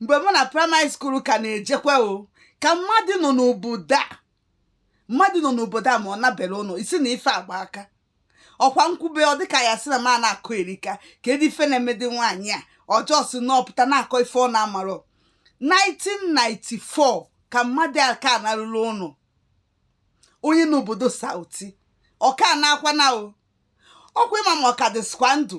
mgbe mụ na primary school ka na-ejekwa o ka mmadụ nọ n'obodo a mmadụ nọ n'obodo a ma ọ nabere ụnọ ị sị na ife a gba aka ọkwa m kwube ọ dịka ya sị na m a na-akọyerika kedu ife na-emedị nwaanyị a ọ just na-apụta na-akọ ife ọ na-amarọ 1994 ka mmadụ aka narurọ ụnọ onye nọ obodo South ọ ka na-akwa na o ọkwa ị ma ma ọ ka dịsikwa ndụ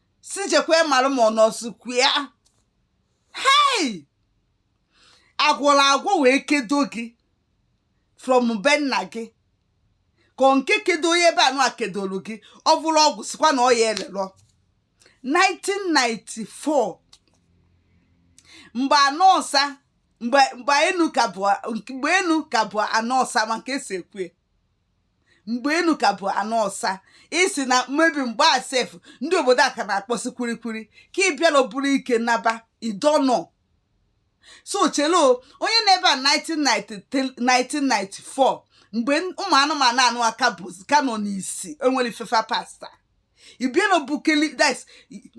sị jekwe mara ma ọ nọsikwa ya hei a gwọrọ agwọ wee kedo gị from be nna gị ka ọ nke kedo onye ebe anụ a kedoro gị ọ bụrụ ọgwụ sịkwa na ọ ya elerọ 1994 mgbe ana ọsa mgbe mgbe enu ka bụ mgbe enu ka bụ ana ọsa ma nke esi ekwu mgbe enu ka bụ ana ọsa ị sị na mmebi mgbe a sef ndị obodo a ka na-akpọsị kwerekwere ka ị bịara buru ike naba idonọ so chelo onye nọ ebe a 1993 1994 mgbe n- ụmụ anụmanụ anụwa ka bụ ka nọ n'isi enwere ife fa pasta ị bịalọ bukeli that's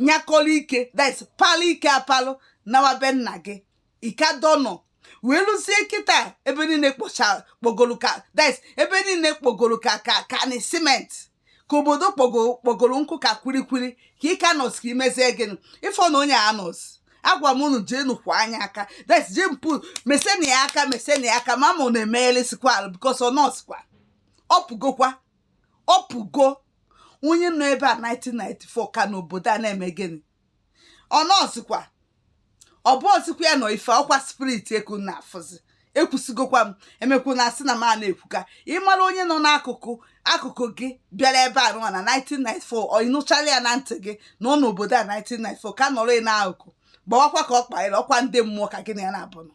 nyakọrọ ike that's palụ ike apalụ nawa be nna gị ị ka dọnọ wee luzie kịta ebe niile kpọcha kpọgoro ka that's ebe niile kpọgoro ka ka ka ana cement ka obodo kpọgoro kpọgoro nkụ ka kwilikwili ka ị ka nọsị ka i mezie gịnị ị fụ na onye a nọsị agwa m unu jee nukwanụ ya aka that's jee mpu mesanụ ya aka mesanụ ya aka ma ma ọ na-emeghelịsikwa arụ because ọ nọsikwa ọpụgokwa ọpụgo onye nọ ebe a 1994 ka nọ obodo a na-eme gịnị ọ nọzikwa ọ bụzikwa ya nọ ife ọkwa spirit ka unu na-afụzi ekwusịgokwa m emekwana a sị na m a na-ekwuka ị mara onye nọ n'akụkụ akụkụ gị bịara ebe anụwa na 1994 ọ ị nụchala ya na ntị gị na ọ nọ obodo a 1994 ka nọrọ ị n'akụkụ gbawakwa ka ọ kpaịrị ọkwa ndị mmụọ ka gị na ya na-abụ nọ